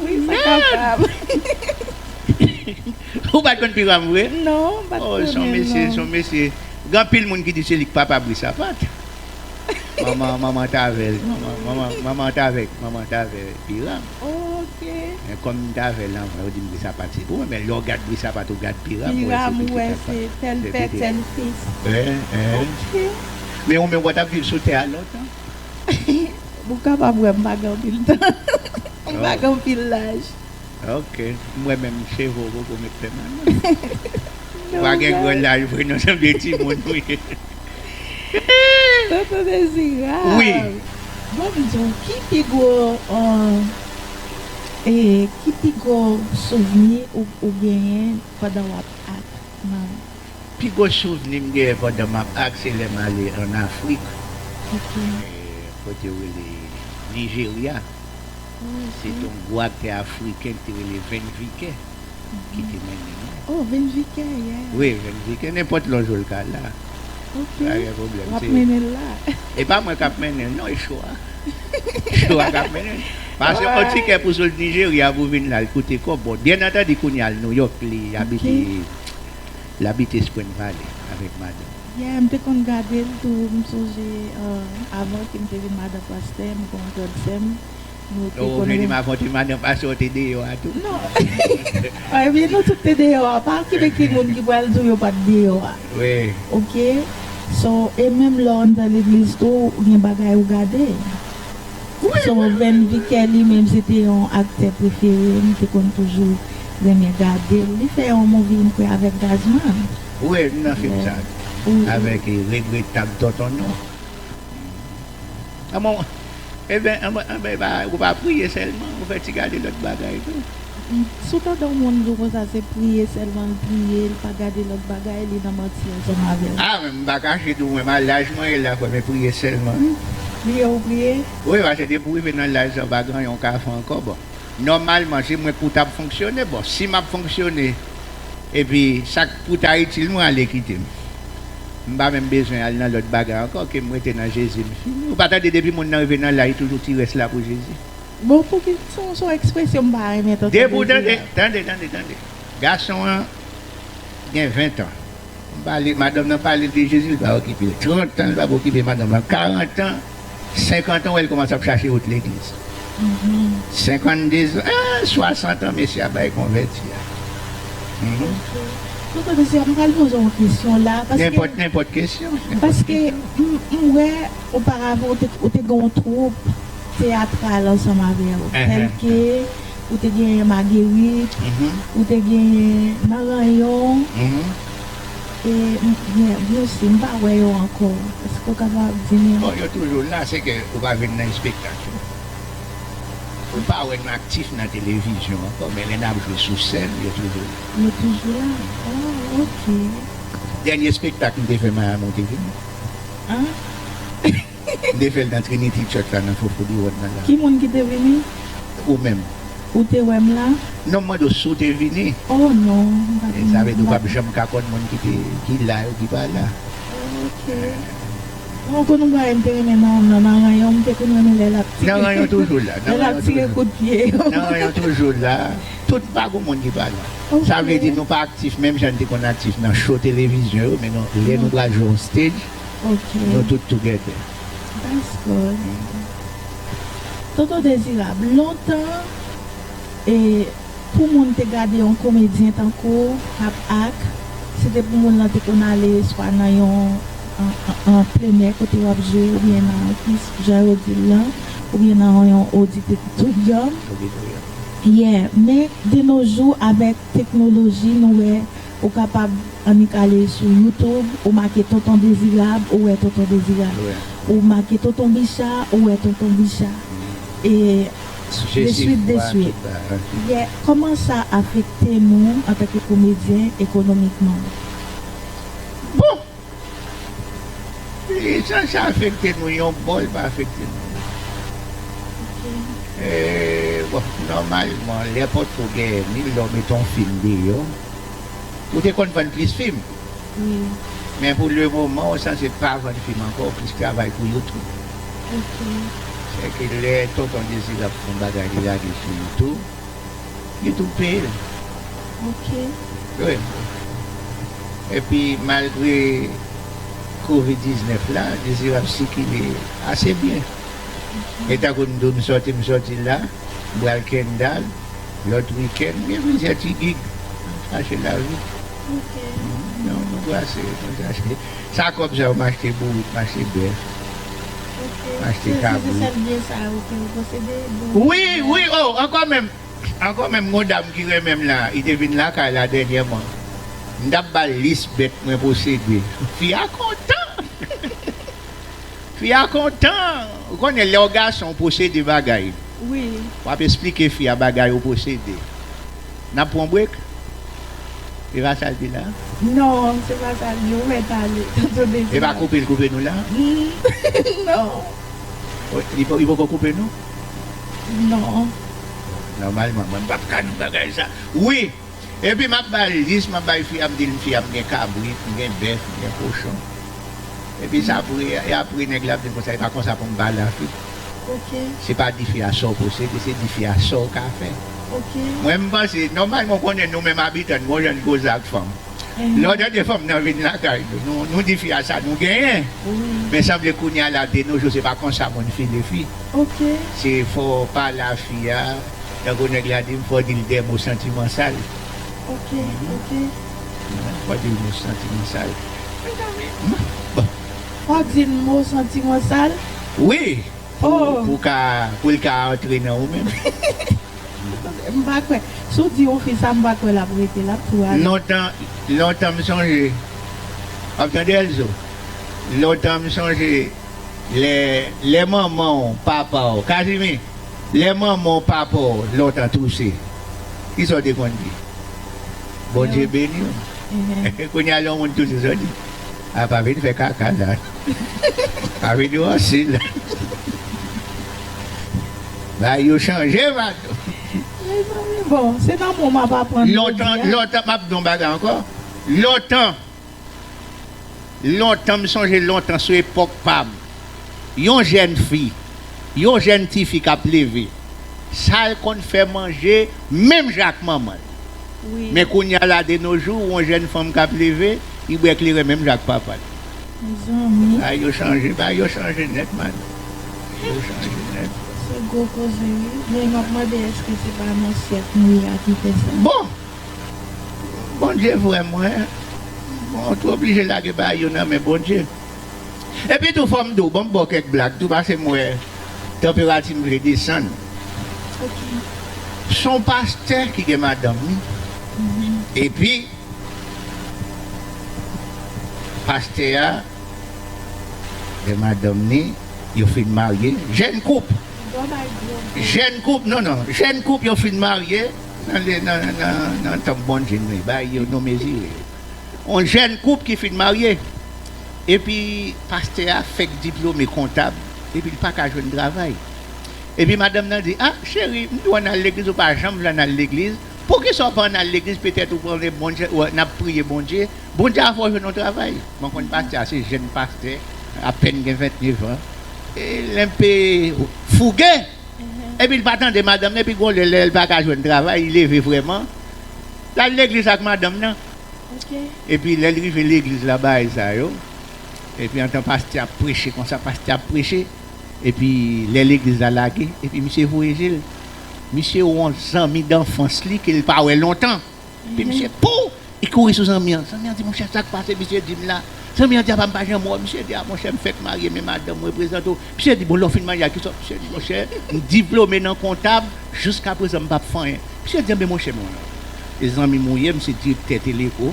Wi sa kapab. Ou pat konn piram vre? Non m pat konnen non. Oh son mesye son mesye gen anpil moun ki di se li ki papa Brice a pat. Manman manman t avèl manman manman manman t avèk manman t avè piram. Oh ok. Men kòm m t avèl anvan yo dim Brice a pat se pou mwen men lè w gad Brice a pat ou gad piram ou wè se pitit a pat. Piram ou wè se tel pè tel fils. Hein hein. Ok. Men ou menm wè tap viv sou tè a lontan? Ou kapab wè m pa gen anpil tan. M pa gen anpil laj. Ok. M wè menm cheve w poko met pèmanan. Ou pa gen gwo laj vre non. Se de timoun ou ye. Tonton Dezirab. Wi. Bon m di w ki pi gwo ki pi gwo souvni ou genyen pandan w ap ak nan. Pi gwo souvni m genyen pandan m ap akselè m ale an Afrik, kote yo rele Nijerya, se te yon gwo aktè afriken ki te rele Vin Vike ki te mennen nou. Oh Vin Vike yeah. Wi Vin Vike, nenpòt lè w jwe l ka la. Ok, w ap mennen l la. E pa mwen k ap mennen l non, e show a. Show a k ap mennen l. Pase yon tikè pou sot Nijerya pou vin la, li koute kòb. Bon, byennantandi kounye a l Nouyòk, li abite. L abite Spring Valley avèk madanm li. Yeah m te konn gade l tou m sonje avan ke m te vin madan pastè m gon grand sè m nou te konn renmen Avan w te madan pastè w te deyò a tou? Non ebyen nou tout te deyò a pa kite ki moun ki pral di w yo pat deyò a ok so e menm lè w anndan legliz tou gen bagay ou gade so Vin Vickey li menm se te yon aktè prefere m te konn toujou Renmen gadel li fè yon movie m kwè avèk Gazman. Ou wè li nan film sa avèk regretab tonton non anmwey ebyen anmwey epa ou pa priye sèlman ou fè ti gade lòt bagay tou. Si w tande yon moun di w konsa se priye sèlman l priye li pa gade lòt bagay li nan manti ansanm avè w. Ah men m pa kache di w mwen ma laj mwen ye la kwè men priye sèlman wi. Priye ou priye? Wi pase depi w rive nan laj sa ou pa gran yon ka fè ankò bon. Nòmalman se mwen kou tap fonksyone bon si map fonksyone epi sak pou ta itil mwen ale kitem m pa menm bezwen al nan lòt bagay ankò kem rete nan Jezi m fini ou pa tande depi moun nan rive nan la li toujou ti rès la pou Jezi. Bon pouki son son ekspresyon m pa renmen tonton Dezi a. Depi ou tande tande tande tande gason an gen 20 ans m pale madanm nan pale de Jezi li pa okipe l 30 ans li pap okipe madanm nan 40 ans. Senkantan wè li kòmanse ap chache wout legliz senkannedezan eh swasantan mesye a bay konvèti a humm. Tonton mesye a m pral poze w yon kesyon la paske Nenpòt kesyon paske m wè oparavan ou te ou te gen yon twoup teyatral ansanm avè w tèlke ou te genyen magerit ou te genyen maranyon humm. E m byen byen su m pa wè yo ankò. Eske w kapab di m. Bon yo toujou la se ke ou pa vin nan espektak yo. Ou pa wè nou aktif nan televizyon ankò men lè n ap jwe sou sèn yo toujou la. Yo toujou la? Oh ok. Dènye espektak m te fè Miami ou te vini? An? M te fè l nan Trinity Church la nan Fofouly Road nan la. Ki moun ki te vini? Ou menm. Ou te wè m la? Non, m mande w si w te vini. O non, m pa te. Sa vle di ou pap janm ka konn moun ki te, ki la yo ki pa la. Ok. Bon, konn yon bagay m te renmen nan Òm nan, nan Ranyon, m te konn renmen lè l ap tire. Nan Ranyon toujou la. Lè l ap tire kout pye yo. Nan Ranyon toujou la. Tout, pa gen moun ki pa la. Ok. Sa vle di nou pa aktif menm jan n te konn aktif nan show televizyon yo, men nou, lè nou pral jwe yon stage, Okay. Nou tout together. That's good. Tonton Dezirab, lontan e pou moun te gade yon komedyen tankou w kap act, se te pou moun lan te konn ale swa nan yon an plenè kote w ap jwe oubyen nan kis jan yo di l lan oubyen nan yon oditoryòm. Auditorium. Yeah, men de no jou avèk teknoloji nou wè Ou kapab annik ale sou youtube ou make tonton dezirab ou wè tonton dezirab ou make tonton bicha ou wè tonton bicha e de swit de swit yè kòman sa afekte nou antanke komedyen ekonomikman bon Li chak sa afekte nou yon bò li pa afekte nou lòt bò e bon nòmalman lè potko gen ni lè w mete yon fim deyò ou te konn vann plis fim men pou le moman ou sanse pa vann fim ankò ou plis travay pou youtube sèke lè tonton dezi ap fè yon bagay li lage sou youtube. Li tou peye l. Ok. Wi. Epi malgre covid 19 la, Dezirab ap sikile ase byen. E tankou m di w m sòti m sòti la, m pral Kendal, lòt wikenn, m gen plizyè ti gig. M ap chache lavi. Ok. Nou brase, nou chache. Sa kòb sa yo m achte bourik, m achte bèf. Achte tab wi. Wi wi oh ankò menm ankò menm gon dam ki renmenm la li te vin lakay la dènyèman m tap bal lis bèt mwen posede fi a kontan fi a kontan ou konnen lèw gason ou posede bagay wap esplike fi a bagay ou posede. Nap pran break e pa sal di la. Non se pa sa li ou met ale tanto de di. Epa koupe li koupe nou la. Non. Li poko koupe nou? Non. Nòmalman mwen pap ka nou bagay sa. Wi epi map bal lis map bay fi a m dil fi a m gen kabrit m gen bèf m gen kochon epi sa pou e apre nèg la ap dim konsa epa konsa pou m pale a fi. Ok. Se pa dife a sa w posede, se dife a sa w ka fè. Ok. Mwen m panse, nòmalman ou konnen nou menm abitan, bon jan n koze ak fanm. Lè w tande fanm nan vin lakay nou, nou dife a sa nou genyen. Wi. Men sanble kounye a la, denojou se pa konsa moun file fi. Ok. Se fò w pale a fi a, tankou nèg la di m, fò w di l de mo santiman sal. Ok, ok. Fò w di l mo santiman sal. Mezanmi! Bon. Fon di n mo santi mwen sal. Wi pou ka pou l ka antre nan ou menm. M pa kwè. Si w di yon fi sa m pa kwè l ap rete l ap tou ale. Lontan lontan m sonje w ap tande Elzo lontan m sonje lè lè manman w papa w Kazimi lè manman w papa w lontan touse ki sa w te konn di Bondye beni w kounye a lè yon moun touse sa w di. A pa vin fè kaka la. Pa vin ranse la. Bagay yo chanje Vado. Mezanmi bon se nan mwen map aprann jodi a. Lontan map di yon bagay ankò lontan lontan m sonje lontan sou epòk pam. Yon jèn fi, yon jèn tifi k ap leve, sa l konn fè manje menm jan ak manman l. Men kounye a la denojou, yon jèn fanm k ap leve, li bwè kleren menm jan ak papa l. Bagay yo chanje, bagay yo chanje nèt man. Yo chanje nèt. Se gwo koze wi, men m ap mande èske se pa nan syèk nou ye a ki fè sa? Bon! Bondye vrèman, ou te oblije lage bagay yo nan men Bondye. Epitou fò m di w, ban m ba w kèk blag tou pase m wè tanperati m vle desann. S on pastè ki gen madanm li epi pastè a gen madanm li yo fin marye, jèn koup, jèn koup, non non, jèn koup yo fin marye nan tanp Bondye m li bay yo nou mezire. On jèn koup ki fin marye epi pastè a fèk diplome kontab epi li pa ka jwenn travay. Epi madanm nan di, a, cheri, m di w ann al legliz ou pa janm vle ann al legliz, poukisa w pa ann al legliz petèt ou konnen Bondye, n ap priye Bondye, Bondye ap fè w jwenn on travay. Mwen konn pastè a, se jèn pastè, apèn gen ventnevan. E l enpe fouge, epi l pa tande madanm nan epi gon lè lè l pa ka jwenn travay, li leve vrèman, L al legliz ak madanm nan. Epi lè l rive legliz la bagay sa yo. Epi antan pastè ap preche konsa pastè ap preche. Epi lè legliz la lage epi misye voye je l. Misye wè yon zanmi danfans li ke l pa wè lontan. Epi misye pouw li kouri sou zanmi an. Zanmi an di monchè sak pase misye di m la. Zanmi an di apa m pa janm wè w. Misye di a monchè m fèk marye men madanm mwen prezante w. Misye di bon lè w fin manje ak kesyon misye di monchè m diplome nan kontab jiskaprezan m pap fè anyen misye di anben monchè mwen e zanmi m ou ye m se direktè teleko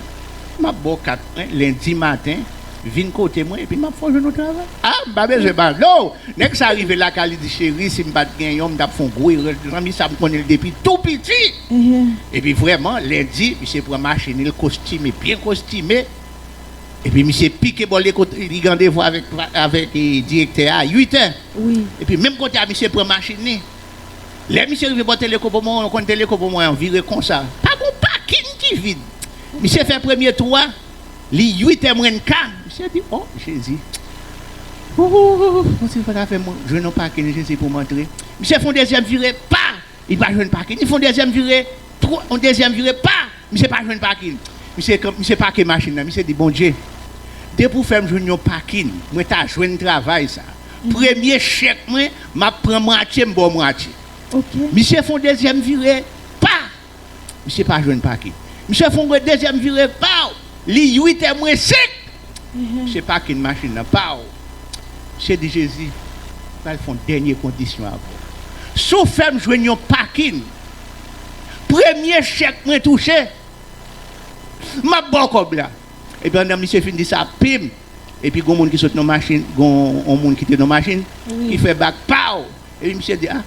m ap ba w kat mwen lendi maten vin kote mwen epi m ap fè w jwenn yon travay a m pa bezwen pado nèg sa rive lakay li di cheri si m pat gen yon m tap fè w gwo erè zanmi sa m konnen l depi tou piti epi vrèman lendi misye pran machin li l kostime byen kostime. Epi misye pike bò li kote li gen randevou avèk direktè a 8 è. Epi menm kote a misye pran machin li. Lè misye rive bò Telekobo mwen wè yon kòn Telekobo mwen an vire konsa. Pa gen yon pakin ki vid. Misye fè premye tou a, li 8 è mwen ka. Misye di, o Jezi. Ooh, ooh, ooh, ooh. Mwen di, si w pa ka fè m jwenn yon pakin Jezi pou m antre. Misye fè yon dezyèm vire, pa! Li pa jwenn pakin. Li fon dezyèm vire, tro, yon dezyèm vire, pa! Misye pa jwenn pakin. Misye kan, misye pake machin nan. Misye di, Bondye, depi ou fè m jwenn yon pakin, mwen ta jwenn travay sa. Premye chèk mwen, m ap pran mwatye, m ba w mwatye. Ok. Misye fon dezyèm vire, pa! Misye pa jwenn pakin. Misye fon dezyèm vire, paw! Li uit è mwen senk! Se pakin machin nan pa w. Se di Jezi, M pral fè yon dènye kondisyon avè w. Si w fè m jwenn yon pakin, premye chèk mwen touche, m ap ba w kòb la. Epi pandan misye fin di sa, pim! Epi gen yon moun ki sot nan machin, gen yon moun ki te nan machin, ki fè bak, paw! Epi misye di, A!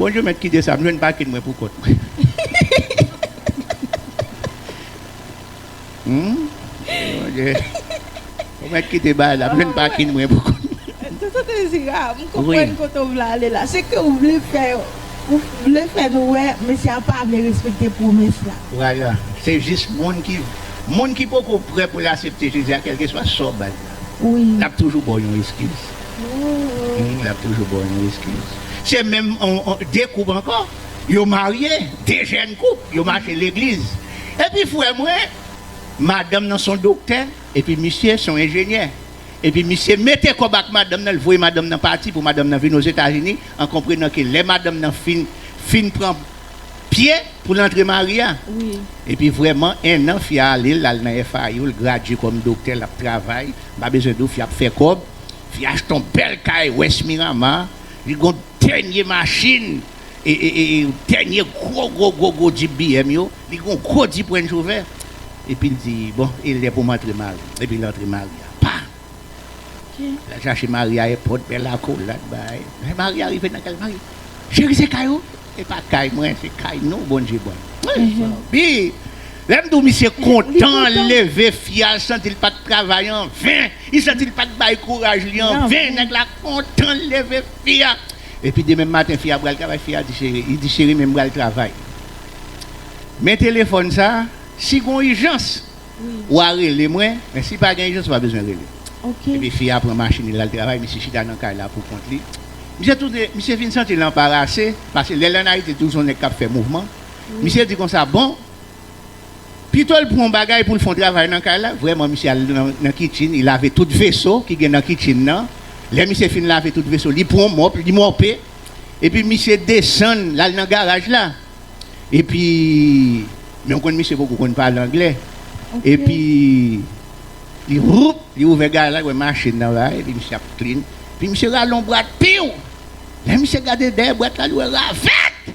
Bondye mèt kite sa, m jwenn pakin mwen pou kont mwen. Ou mèt kite bay la, m jwenn pakin mwen pou kont mwen. Tonton Dezira, m konprann kote w vle ale la. Se ke w vle fè yo, ou vle fè nou wè mesye a pa vle respekte pwomès la. Vwala, se jis moun ki, moun ki poko prè pou l asepte Jezi a, kèlkeswa sa w ba l la, l ap toujou ba w yon eskiz. L ap toujou ba w yon eskiz. Se menm, de koup ankò. Yo marye, 2 jèn koup, yo mache legliz. Epi frè mwen, madanm nan son doktè, epi misye son enjenyè. Epi misye mete kòb ak madanm nan, li voye madanm nan pati pou madanm nan vin Ozetazini, an konprenan ke lè madanm nan fin fin pran pye pou l antre mari a. Epi vrèman, 1 an fi a ale, l al nan FIU, l gradye kòm doktè, l ap travay, m pa bezwen di w, fi a ap fè kòb, fi a achte yon bèl kay West Miramar, li gon. Dènye machin Dènye gwo gwo gwo gwo djip BM yo Li gen yon gwo dip Range Rover Epi l di Bon e lè pou m antre Mari Epi l antre Mari a Pa L al chache Mari a èpòt Bèl akolad bay Lè Mari a rive nan kay Mari Cheri se kay ou E pa kay mwen se kay nou Bondje ban nou Bi Lè m di w misye kontan L leve fi a l santi l pa t travay anven Li santi l pa t bay kouraj li anven Nèg la kontan L leve Fi a, epi demen maten fi a pral travay, fi a di cheri, li di cheri men m pral travay men telefòn sa si gon ijans wa rele mwen men si pa gen ijans ou pa bezwen rele epi fi a pran machin li lal travay misye chita nan kay la pou kont li misye tou de misye fin santi l anparase paske lè l an ayiti l toujou son nèg k ap fè mouvman misye di konsa bon Pito l pran yon bagay pou l fè yon travay nan kay la. Vrèman, misye al nan kichin, li lave tout veso ki gen nan kichin nan. Lè misye fin lave tout veso, li pran yon mòp, li mòpe. Epi misye desann, l al nan garaj la. Epi, men ou konn misye poko konn pale anglè. Epi, li voup, li ouvè garaj la, li wè machin nan la, epi misye ap klin. Epi misye rale yon bwat, piw! Lè misye gade dèyè bwat la, li wè ravèt!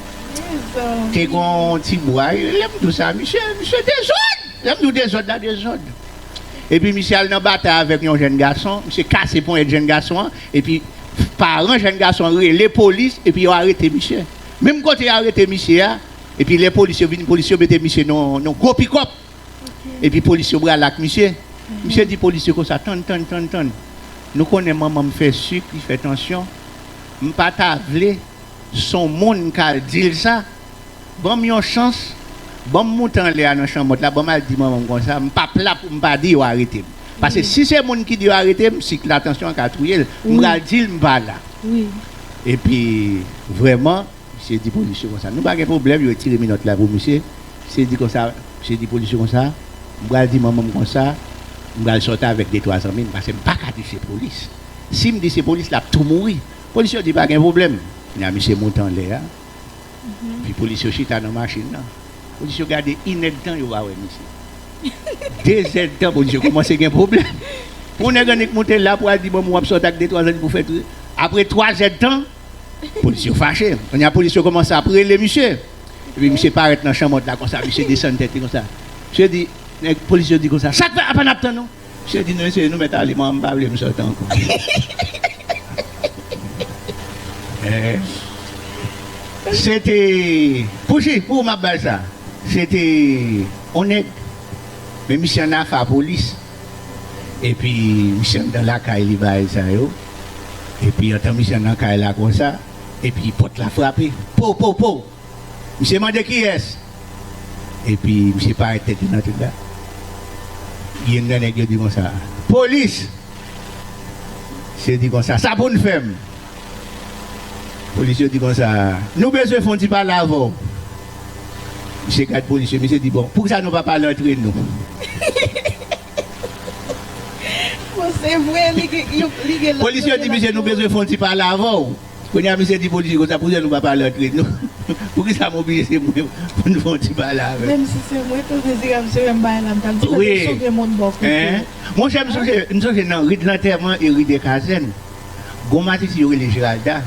Te gen yon ti bway lè m di w sa. Misye, misye dezòd! Lè m di w dezòd la, dezòd. Epi misye al nan batay avèk yon jenn gason. Misye kase ponyèt jenn gason an. Epi paran jenn gason an rele polis epi yo arete misye. Menm kote yo arete misye a, epi lè polis yo vin, polis yo mete misye nan yon gwo pikòp. Epi polis yo brale ak misye. Misye di polis yo konsa, Tann, tann, tann, tann. Nou konnen manman m fè sik, li fè tansyon. M pa ta vle. Son moun kal dil sa, banm yon chans, banm moute anlè a nan chanmòt la, banm al di manmanm konsa, m pap la poum pa di yo aretem. Pase si se moun ki di yo aretem, sik la, tansyon an ka touyel, m pral dil m pa la. Epi vrèman, misye di polis yo konsa, nou pa gen pwoblèm, yo retire minòt la pou misye, misye di konsa, misye di polis yo konsa, m pral di manmanm konsa, m pral sòti avèk de twa zanmim, pase m paka di se polis. Sim di se polis lap tou mouri, Polis yo di pa gen pwoblèm. Kounya misye monte anlè a, epi polis yo chita nan machin nan. Polis yo gade inèdtan yo pa wè misye. Dezèdtan polis yo koumanse gen pwoblèm. Pou yon nèg annik monte la pou al di banm ou ap sòt ak detwa zanmi pou fè tout. Apre twazèdtan, polis yo fache. Kounya polis yo koumanse ap rele misye. Epi misye parèt nan chanmòt la konsa, misye desann tèt li konsa. Misye di, nèg polis yo di konsa, sak fè apa nap tann ou? Misye di mesye nou mèt ale mwen pa vle m sot ankò se te pou jij pou ou map bal sa se te on nèg men misye an afa polis epi misye anndan lakay li bagay sa yo epi antan misye nan kay la konsa epi pòt la frape pow pow pow. Misye mande kiyès? Epi misye parèt tèt li nan tout la. Youn nan nèg yo di konsa, Polis! Misye di konsa, Sa pou n fè m? Polis yo di konsa, Nou bezwen fè yon ti pale avè w. Misye gad polis yo, misye di, Bon, poukisa nou pa pale antre nou? Bon, se vre li gen lanmou. Polis yo di misye, Nou bezwen fè yon ti pale avè w. Konya misye di police konsa poukisa nou pa pale antre n nou poukisa m oblije se mwen pou n fè yon ti pale avè m. Wi eeh monchè m sonje m sonje nan ri de lantèman e ri de kazèn gon masisi yo rele Geralda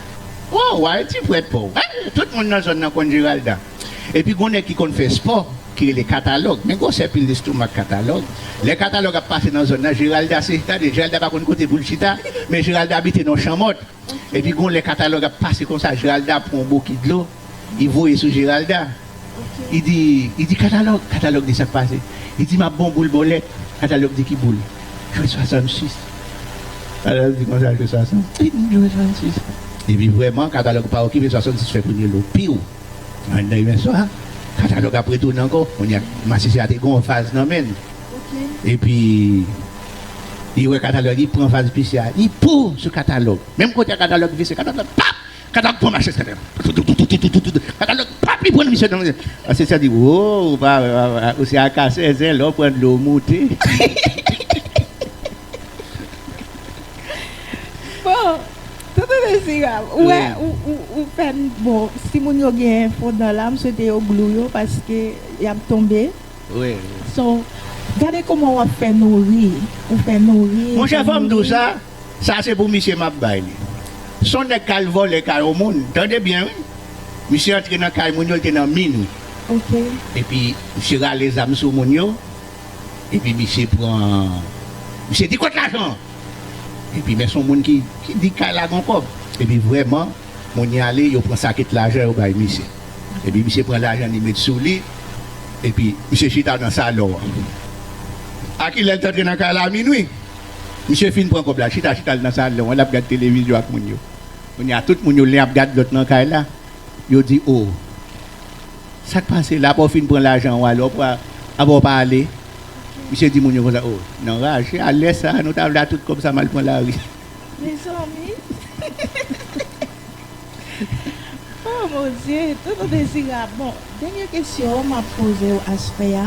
o wa yon ti pwèt paw eh tout moun nan zòn nan konn Geralda epi gon nèg ki konn fè spò ki rele katalòg men gwosè pil lestomak katalòg lè katalòg ap pase nan zòn nan Geralda se tande Geralda pa konn kote pou l chita men Geralda abite nan yon chanmòt. Epi gon lè katalòg ap pase konsa Jeralda pran yon bokit dlo li voye sou Jeralda li di li di katalòg, katalòg di sak pase li di map bon boul bòlèt katalòg di ki boul jwe 66 katalòg di konsa jwe 66 li di jwe 66 epi vrèman katalòg pa okipe 66 fè premye lo piu anndan imen swa katalòg ap retounen ankò kounya masisi a te gon vaz nan menl epi. Li wè katalòg li pran vaz pise a li po sou katalòg menm kote a katalòg vise katalòg pap katalòg pran mache sèten an toutoutoutoutoutoutoutout katalòg pap li pran misye nan asesè di wo ou pa wè papa ou se a kasè zen lè w pran dlo w moute bon tonton dezirab ou wè ou fè n bon si moun yo gen fon dan la m swete yo glou yo paske y ap tonbe. Rirr. So, gade kouman wap fè nou ri, ou fè nou ri, ou fè nou ri. Sa se pou misye map bay li. Son nèg kal vòlè kay on moun, tande byen wi. Misye antre nan kay moun yo li te nan minuit. Ok. Epi misye rale zam sou moun yo, epi misye pran, misye di kot lajan an? Epi men son moun ki di kay la gon kòb. Epi vrèman Moun y ale yo pran sakit lajan yo bay misye epi misye pran lajan li met sou li epi misye chita nan salon an a ki lè l t antre nan kay la minwi misye fin pran kòb la chita chita l nan salon an l ap gad televizyon ak moun yo kounye a tout moun yo len ap gad lòt nan kay la yo di oo sa k pase la apa w fin pran lajan w ale apa w pa ale misye di moun yo konsa oo nan raje a lè sa nou ta vle a tout kòb sa m al pran lari. Mezanmi oh mon Dieu tonton Dezirab bon dènyè kesyon map pozew aspè a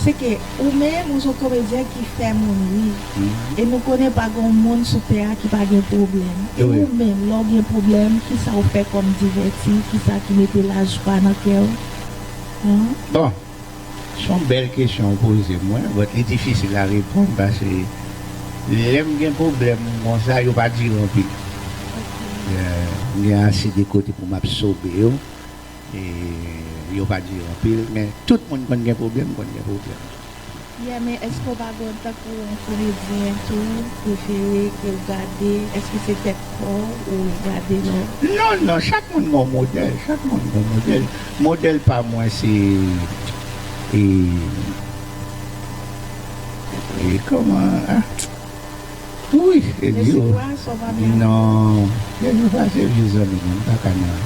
se ke ou menm ou son komedyen ki fè moun ri e nou konnen pa gon moun sou tè a ki pa gen pwoblèm e ou menm lèw gen pwoblèm kisa ou fè kòm divèti kisa ki mete lajwa nan kèw an? Bon Son bèl kesyon ou poze mwen but li difisil a reponn pase lèm gen pwoblèm konsa yo pa dire anpil m gen ase de kote pou map sobe yo e yo pa dire anpil men tout moun konn gen pwoblèm m konn gen pwoblèm. Pierre men eske ou pa gon tankou yon komedyen tou prefere kew gade eske se tèt paw ou gade non. Non non chak moun gon modèl chak moun gon modèl modèl pa mwen se e kòman ah ui eli o non eli pa se vye zanmi non mpaka nan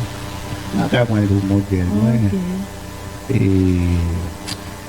mpaka pranl pou modèl mwen e.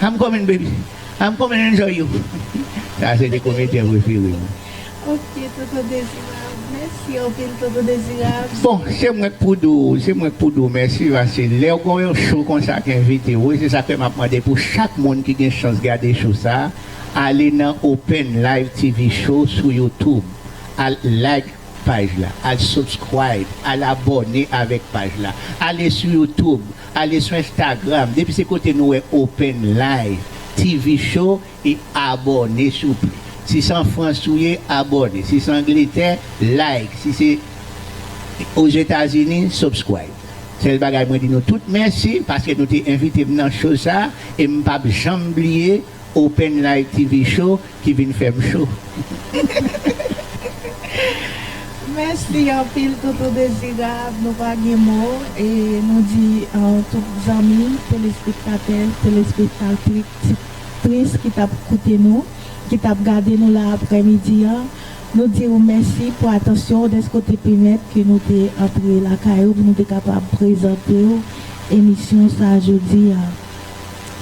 I'm coming baby I'm coming enjoy you Sa se 2 komedyen prefere m. Ok tonton dezirab mèsi anpil tonton dezirab. Bon se mwen k pou di w se mwen k pou di w mèsi paske lèw gon yon show konsa k envite w e se sa k fè map mande pou chak moun ki gen chans gade show sa ale nan open live TV show sou youtube al like paj la al subscribe al abòne avèk paj la ale sou youtube Ale sou Instagram depi se kote nou wè open live TV show e abòne souple si se an France ou ye abòne si se angletè like si se ozetazini subscribe sèl bagay mwen di nou tout mèsi paske nou te envitem nan show sa e mpap janm bliye Open light TV show ki vin fèm cho. Mèsi anpil toutou dezirab nou pa gen mo e nou di tout zanmi telespektatè telespektatris ki tap koute nou ki tap gade nou la aprè midi an nou diw mèsi pou atansyon ou dèske ou te pemèt ke nou te antre lakay ou pou nou te kapab prezantew emisyon sa jodi a.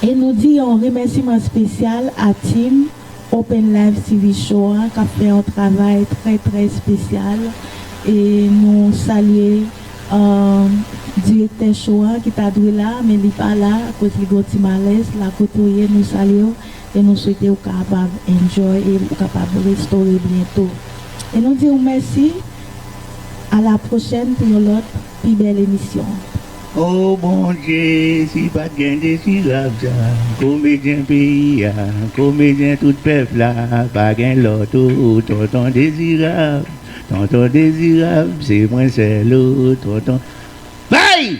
E nou di yon remèsiman spesyal a team Open Live TV Show an kap fè yon travay trè trè spesyal e nou salye direktè show an ki ta dwe la men li pa la akoz li gen yon ti malèz la kote ou ye nou salye w e nou swete ou kapab enjoy e ou kapab restore byento e nou di w mèsi a la pwochèn pou yon lòt pi bèl emisyon. Oh bondye si pat gen desi labza komedyen peyi a komedyen tout pèp la pa gen lòt ou tonton dezirab tonton dezirab se mwen sèl ou tonton bay.